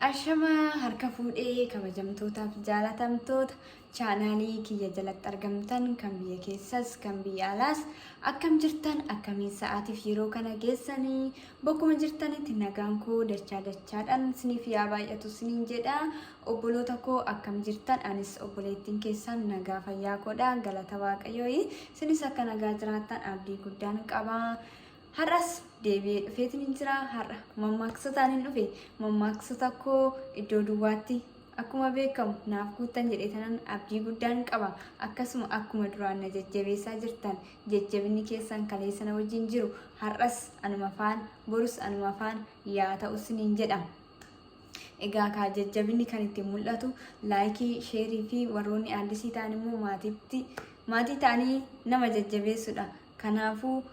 Ashama harka fuudhee kabajamtootaaf jaalatamtoota Chaanaalii kiyya jalatti argamtan kan biyya keessas kan biyya alaas akkam jirtan akkamiin sa'aatiif yeroo kana geessanii bakkuma jirtanitti nagaan koo dachaa dachaadhaan isiniif yaa baay'atu isiniin jedha obboloota koo akkam jirtan anis obboleettiin keessan nagaa fayyaa koodha galata waaqayyooyi isinis akka nagaa jiraattan abdii guddaan qaba. Har'as deebi'ee dhufeetiin hin jira. Har'a mammaaksotaan hin dhufe. Mammaaksota koo iddoo duwwaatti akkuma beekamu naaf guuttan jedhee tanan abdii guddaan qaba. Akkasuma akkuma duraan na jajjabeessaa jirtan jajjabinni keessan kaleessa na wajjin jiru. Har'as anuma faan borus anuma faan yaa ta'u siniin jedha. Egaa kaa jajjabinni kan ittiin mul'atu laayikii, sheerii fi warroonni addisii ta'an immoo maatiitti maatii ta'anii nama jajjabeessudha. Kanaafuu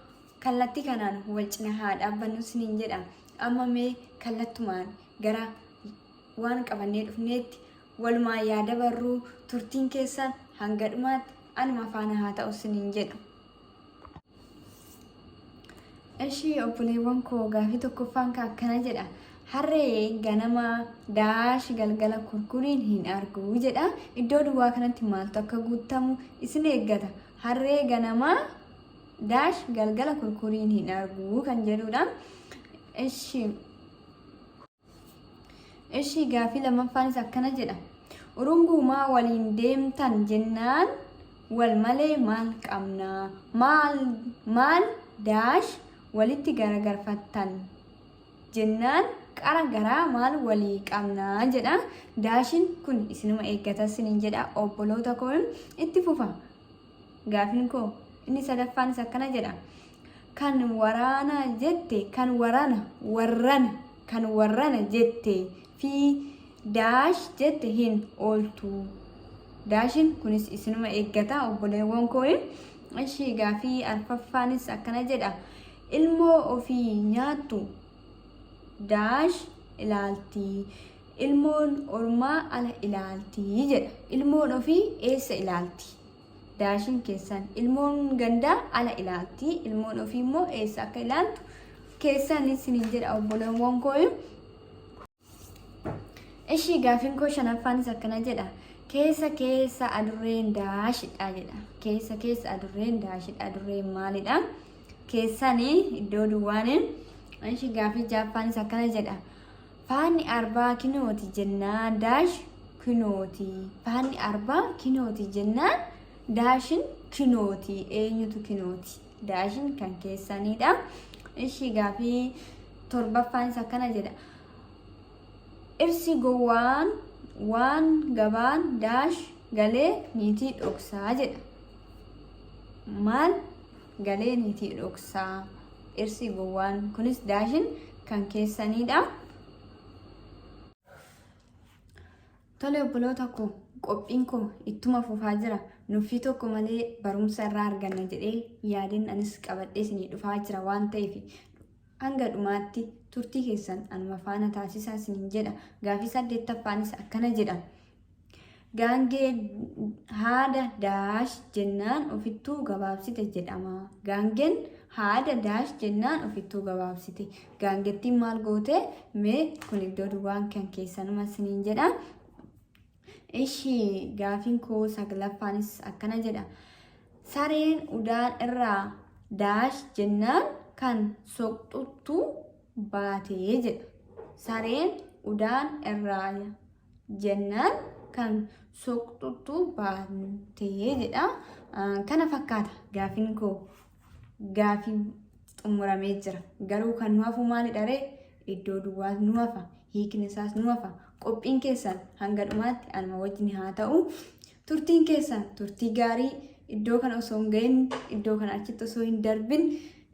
kallattii kanaan wal cina haa dhaabbannu isiniin jedha. Amma mee kallattumaan gara waan qabannee dhufneetti walumaan yaa dabarruu turtiin keessan hanga dhumaatti anuma faana haa ta'u isiniin jedha. Ishii obboleewwan koo gaafii tokkoffaan ka akkana jedha. Harree ganama daashi galgala kurkuriin hin argu jedha. Iddoo duwwaa kanatti maaltu akka guutamu isin eeggata. Harree ganamaa daash galgala kurkuriin hin argu kan jedhudha. Ishi Ishi gaafii lammaffaanis akkana jedha. Urunguumaa waliin deemtan jennaan wal malee maal qabna? Maal maal daash walitti garagarfattan jennaan qara garaa maal walii qabna jedha daashin kun isinuma eeggata sinin jedha obboloota koo itti fufa gaafin koo inni sadaffaanis akkana jedha kan waraana jette kan waraana warrana kan warrana jette fi daash jette hin ooltu daashin kunis isinuma eeggata obboleewwan koo ishii gaafii arfaffaanis akkana jedha Ilmoo ofii nyaattu daash ilaalti, ilmoon ormaa ala ilaalti jedha. Ilmoon ofii eessa ilaalti? Daashiin keessan. Ilmoon gandaa ala ilaalti, ilmoon ofii immoo eessa akka ilaaltu keessan isiniin jedha obboleewwan kooyu. Ishii gaafin koo shanaffaanis akkana jedha. Keessa keessa adurreen daashidha jedha. Keessa keessa adurreen daashidha. Adurreen maalidha? Keessaan iddoo duwwaan. Ishii gaafii jaaffaanis akkana jedha. Faanni arbaa kinooti jennaan daash kinooti. Faanni arbaa kinooti jennaan daashin kinooti. Eenyutu kinooti? Daashin kan keessanidha. Ishii gaafii torbaffaan isa akkana jedha. Irsi gowwaan waan gabaan daash galee niitii dhoksaa jedha. Maal galee niitii dhoksaa irsi gowwaan kunis daashin kan keessanidha. Tole obboloota koo qophiin koo ittuma fufaa jira nuffii tokko malee barumsa irraa arganna jedhee yaadeen anis qabadhee isinii dhufaa jira waan ta'eef hanga dhumaatti turtii keessan anuma faana taasisaa isiniin jedha gaafii saddeettaffaanis akkana jedha. Gaangee haada daash jennaan ofittuu gabaabsite jedhama. Gaangeen haada daash jennaan ofittuu gabaabsite. Gaangettiin maal goote mee kun iddoo duwwaan kan keessanuma isiniin jedha. Ishii gaafiin koo saglaffaanis akkana jedha. Sareen udaan irraa daash jennaan kan soqxuttu baatee jedha. Sareen udaan irraa jennaan kan soqxuttu baatee jedha. Kana fakkaata gaafiin koo. gaafiin xumuramee jira. Garuu kan nu hafu maalidha ree? Iddoo duwwaa nu hafa. Hiikni isaas nu hafa. Qophiin keessan hanga dhumaatti anuma wajjin haa ta'u. Turtiin keessan turtii gaarii iddoo kana osoo hin gahin iddoo kana achitti osoo hin darbin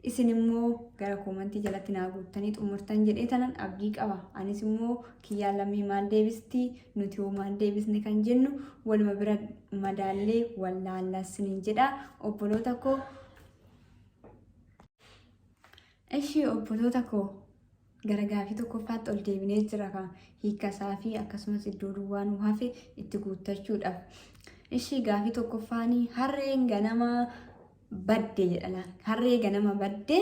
isin immoo gara koomantii jalatti naa guuttanii xumurtan jedhee tanan abdii qaba. Anis immoo kiyyaa lammii maal deebisti nuti hoo maal deebisne kan jennu waluma bira madaallee wallaallaa siniin jedha obboloota koo ishii obboloota koo gara gaafii tokkoffaatti ol deebinee jira kan hiikasaa fi akkasumas iddoo duwwaa nu hafe itti guuttachuudhaaf ishii gaafii tokkoffaanii harreen ganamaa badde jedha laal harree ganama badde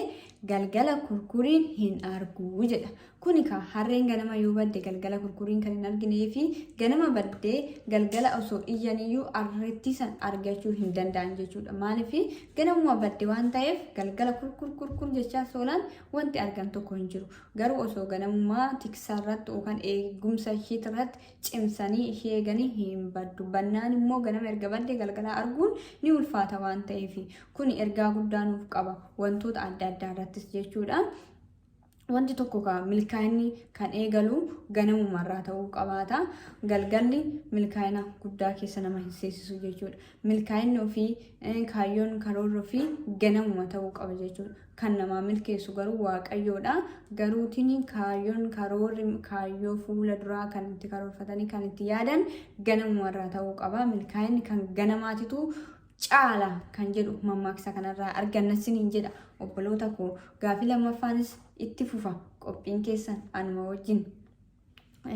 galgala kurkuriin hin argu jedha kuni ka harreen ganama yoo badde galgala kurkuriin kan hin arginee fi ganama badde galgala osoo iyyaniyyuu arrettii san argachuu hin danda'an jechuudha maaliif ganamuma badde waan ta'eef galgala kurkur kurkur jechaa soolaan wanti argan tokko hin jiru garuu osoo ganamuma tiksaarratti yookaan eegumsa ishiitirratti cimsanii ishii eeganii hin baddu. Bannaan immoo ganama erga baddee galgalaa arguun ni ulfaata waan ta'eef kun ergaa guddaa nuuf qaba wantoota adda addaa irrattis jechuudha. Wanti tokko ka milkaa'inni kan eegalu ganamuma irraa ta'uu qabaata. Galgalli milkaa'ina guddaa keessa nama hin seesisu jechuudha. Milkaa'inni ofii eh, kaayyoon karoorri ofii ganamuma ta'uu qaba jechuudha. Kan namaa milkeessu garuu Waaqayyoodha. Garuutiin kaayyoon, karoorri, kaayyoo fuula duraa kan itti karoorfatanii kan itti yaadan ganamumarraa ta'uu qaba. Milkaa'inni kan ganamaatitu caala kan jedhu mammaaksa kanarraa arganna siniin jedha obboloota koo. Gaafii lammaffaanis itti fufa qophiin keessan anuma wajjin.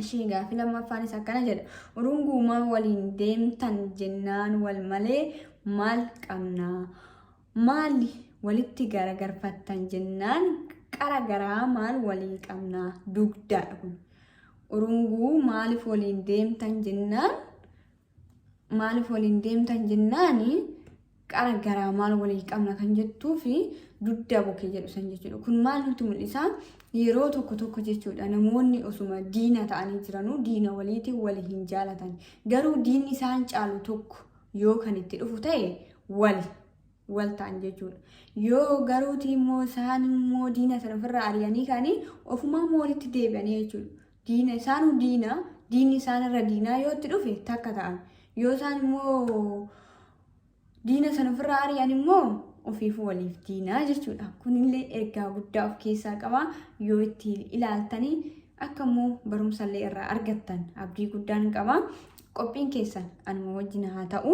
Ishii gaafii lammaffaanis akkana jedha. Urunguumaa waliin deemtan jennaan wal malee maal qabnaa? Maali walitti garagarfattan jennaan qara garaa maal waliin qabnaa dugdaadha kun. Urunguu maaliif waliin deemtan jennaan maaliif waliin deemtan jennaan qara garaa maal waliin qabna kan jettuu fi dugdaa bokkee jedhu san jechuudha. Kun maal nutti mul'isa? Yeroo tokko tokko jechuudha namoonni osuma diina ta'anii jiranuu diina waliitiin wali hin jaalatan. Garuu diinni isaan caalu tokko yoo kan itti dhufu ta'e wal wal ta'an jechuudha. Yoo garuuti immoo isaan immoo diina sana ofirraa ari'anii kaanii ofumaa immoo walitti deebi'anii jechuudha. Diina isaanuu diina diinni isaanirra diinaa yoo itti dhufe takka ta'an. Yoo isaan immoo diina sana ofirraa ari'an immoo ofiifuu waliif diinaa jechuudha. Kunillee ergaa guddaa of keessaa qaba yoo itti ilaaltanii akka immoo barumsallee irraa argattan abdii guddaan qaba. Qophiin keessan anuma wajjin haa ta'u.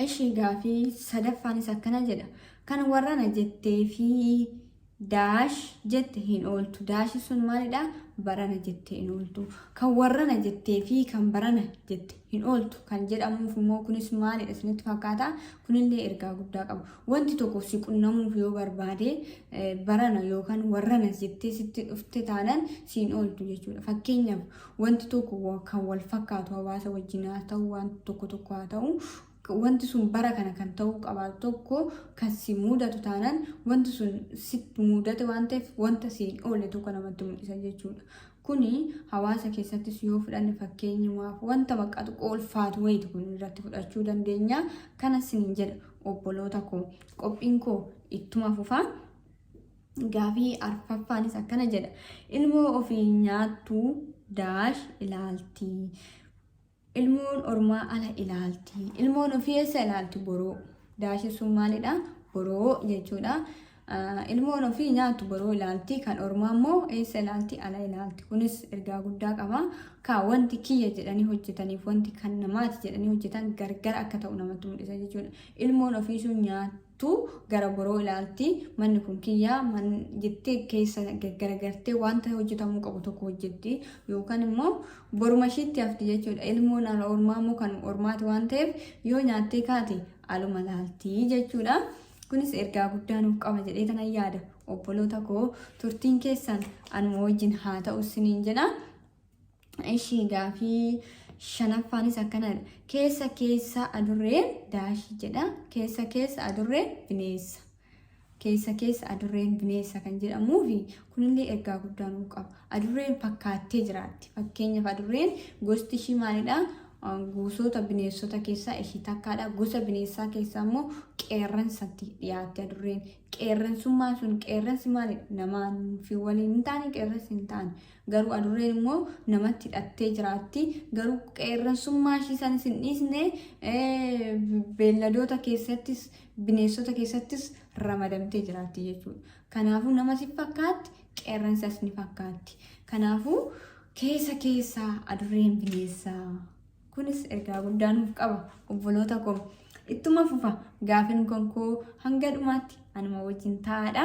Ishii gaafii sadaffaanis akkana jedha. Kan warrana jettee fi daash jette hin ooltu. Daashi sun maalidha? Barana jettee hin ooltu. Kan warrana jettee fi kan barana jette hin ooltu. Kan jedhamuuf immoo kunis maalidha isinitti fakkaata? Kunillee ergaa guddaa qabu. Wanti tokko si qunnamuuf yoo barbaade barana yookaan warrana jettee sitti dhufte taanan siin ooltu jechuudha. Fakkeenyaaf wanti tokko kan wal fakkaatu hawaasa wajjin haa ta'u waan tokko tokko haa ta'u wanti sun bara kana kan ta'uu qabaatu tokko kan si mudatu taanan wanti sun si mudate waan ta'eef wanta siin oole tokko namatti mul'isa jechuudha. Kuni hawaasa keessattis yoo fudhanne fakkeenyumaaf wanta maqaa xiqqoo ulfaatu wayiiti kun irratti fudhachuu dandeenya. Kana siin jedha. obboloota koo qophiin koo ittuma fufaa gaafii arfaffaanis akkana jedha ilmoo ofii nyaattu daash ilaalti ilmoon ormaa ala ilaalti ilmoon ofii eessa ilaalti boroo daashi sun maalidha boroo jechuudha Ilmoon ofii nyaattu boroo ilaalti, kan ormaa immoo eessa ilaalti? Ala ilaalti. Kunis ergaa guddaa qaba. Kaa wanti kiyya jedhanii hojjetaniif wanti kan namaati jedhanii hojjetan gargar akka ta'u namatti mul'isa jechuudha. Ilmoon ofii sun nyaattu gara boroo ilaalti, manni kun kiyya man jettee keessa gaggaragartee wanta hojjetamuu qabu tokko hojjetti yookaan immoo boruma ishiitti hafti jechuudha. Ilmoon ala ormaa immoo kan ormaati waan ta'eef yoo nyaattee kaate aluma ilaalti jechuudha. Kunis ergaa guddaa nuuf qaba jedhee kanan yaada. Obboloota koo turtiin keessan anuma wajjin haa ta'u isiniin jedha. Ishii gaafii shanaffaanis akkanadha. Keessa keessa adurreen daashii jedha. Keessa keessa adurreen bineensa. Keessa keessa adurreen bineensa kan jedhamuu fi Kunillee ergaa guddaa nuuf qaba. Adurreen fakkaattee jiraatti. Fakkeenyaaf adurreen gosti ishii maalidha? Gosoota bineensota keessaa ishii takkaadha. Gosa bineensaa keessaa immoo qeerransatti dhiyaatti adurreen. Qeerransummaan sun qeerransi maalidha? Namaa fi waliin hin taane qeerransi hin taane. Garuu adurreen immoo namatti hidhattee jiraatti. Garuu qeerransummaa ishii sanis hin dhiisne beelladoota keessattis bineensota keessattis ramadamtee jiraatti jechuudha. Kanaafuu nama si fakkaatti, qeerransas ni fakkaatti. Kanaafuu keessa keessa adurreen bineessa. Kunis ergaa guddaa nuuf qaba obboloota koo. Ittuma fufa gaafin konkoo hanga dhumaatti anuma wajjin taa'aadha.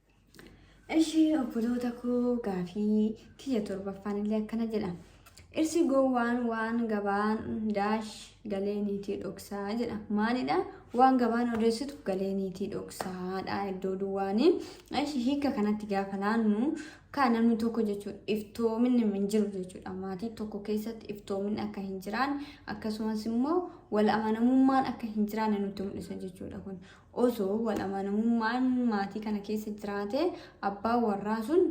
Ishi obboloota koo gaafii kiyya torbaffaan illee akkana jedha. Irsi gowwaan waan gabaan daash galee niitii dhoksaa jedha. Maalidha? Waan gabaan odeessitu galee niitii dhoksaadha iddoo duwwaanii. Ishi hiika kanatti gaafa laannu kaa namni tokko jechuudha iftoominni hin jiru jechuudha. Maatii tokko keessatti iftoominni akka hin jiraanne akkasumas immoo wal amanamummaan akka hin jiraanne nutti mul'isa jechuudha kun. Osoo wal amanamummaan maatii kana keessa jiraate abbaan warraa sun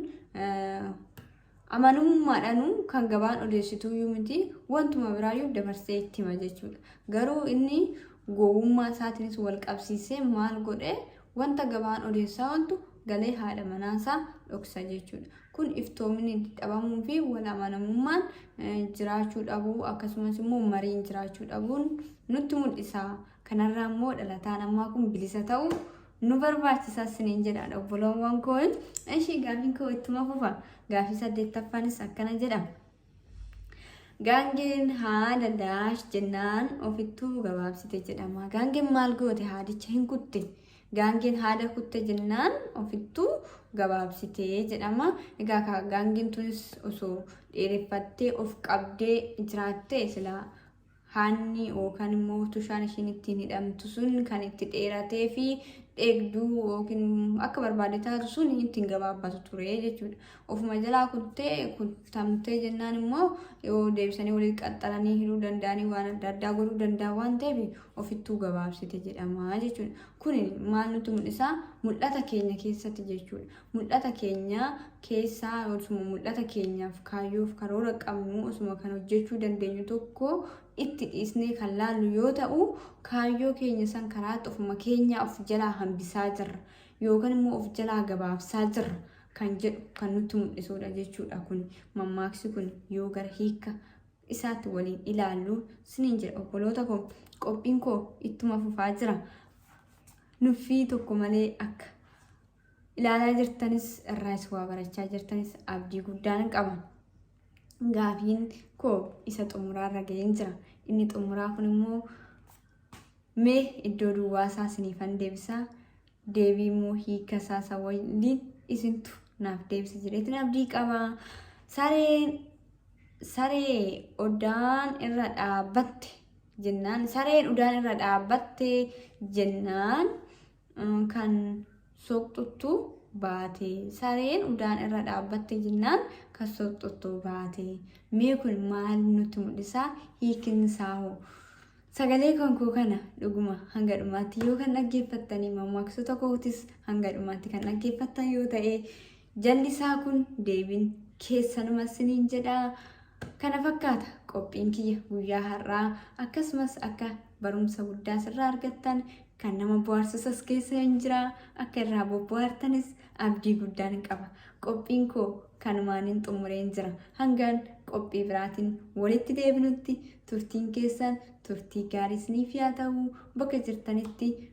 amanamummaadhaanuu kan gabaan odeessituu iyyuu miti wantuma biraayyuu dabarsee itti hima jechuudha. Garuu inni gowwummaa isaatiinis wal qabsiisee maal godhee wanta gabaan odeessaa ooltu galee haadha manaasaa dhoksa jechuudha. Kun iftoominni dhabamuu fi wal amanamummaan jiraachuu dhabuu akkasumas immoo mariin jiraachuu dhabuun nutti mul'isa. Kanarraa immoo dhalataan ammaa kun bilisa ta'u nu barbaachisa isiniin jedhaan obboloowwan koo. Ishii gaafiin koo ittuma fufa. Gaafii saddeettaffaanis akkana jedha. Gaangeen haada daash jennaan ofittuu gabaabsite jedhama. Gaangeen maal goote haadicha hin kutte. Gaangeen haada kutte jennaan ofittuu gabaabsite jedhama. Egaa kaa gaangeen tunis osoo dheereffattee of qabdee jiraattee silaa haanni yookaan immoo tushaan ishiin ittiin hidhamtu sun kan itti dheeratee fi dheegduu yookiin akka barbaade taatu sun ittiin gabaabbatu ture jechuudha. Ofuma jalaa kuttee kuttamtee jennaan immoo yoo deebisanii walitti qaxxalanii hidhuu danda'anii waan adda addaa godhuu danda'a waan ta'eef ofittuu gabaabsite jedhama jechuudha. Kun maal nutti mul'isa? Mul'ata keenya keessatti jechuudha. Mul'ata keenya keessaa osuma mul'ata keenyaaf kaayyoof karoora qabnu osuma kan hojjechuu dandeenyu tokko itti dhiisnee kan laallu yoo ta'u kaayyoo keenya san karaatti ofuma keenyaa of jalaa hambisaa jirra yookaan immoo of jalaa gabaabsaa jirra kan jedhu kan nutti mul'isuudha jechuudha kun mammaaksi kun yoo gara hiika isaatti waliin ilaallu siniin jedha obboloota koo qophiin koo ittuma fufaa jira nuffii tokko malee akka ilaalaa jirtanis irraas waa barachaa jirtanis abdii guddaan qaba. Gaafiin koo isa xumuraa irra ga'een jira. Inni xumuraa kun immoo mee iddoo duwwaa isaa isiniifan deebisaa deebii immoo hiika isaa isa waliin isintu naaf deebisa jedheetiin abdii qaba. Sareen saree odaan irra dhaabbatte jennaan sareen udaan irra dhaabbatte jennaan kan soqxuttu baate sareen udaan irra dhaabbatte jennaan kan soqxuttu baate mee kun maal nutti mul'isaa hiikin isaa hoo sagalee kan koo kana dhuguma hanga dhumaatti yoo kan dhaggeeffattanii mammaaksoota kootis hanga dhumaatti kan dhaggeeffattan yoo ta'e Jallisaa kun deebiin keessanuma siniin jedha. Kana fakkaata qophiin kiyya guyyaa har'aa akkasumas akka barumsa guddaa sirraa argattan kan nama bohaarsusas keessa hin jira akka irraa bobbohaartanis abdii guddaan qaba. Qophiin koo kanumaanin xumureen jira. Hangaan qophii biraatiin walitti deebinutti turtiin keessan turtii gaarii isiniif yaa ta'u bakka jirtanitti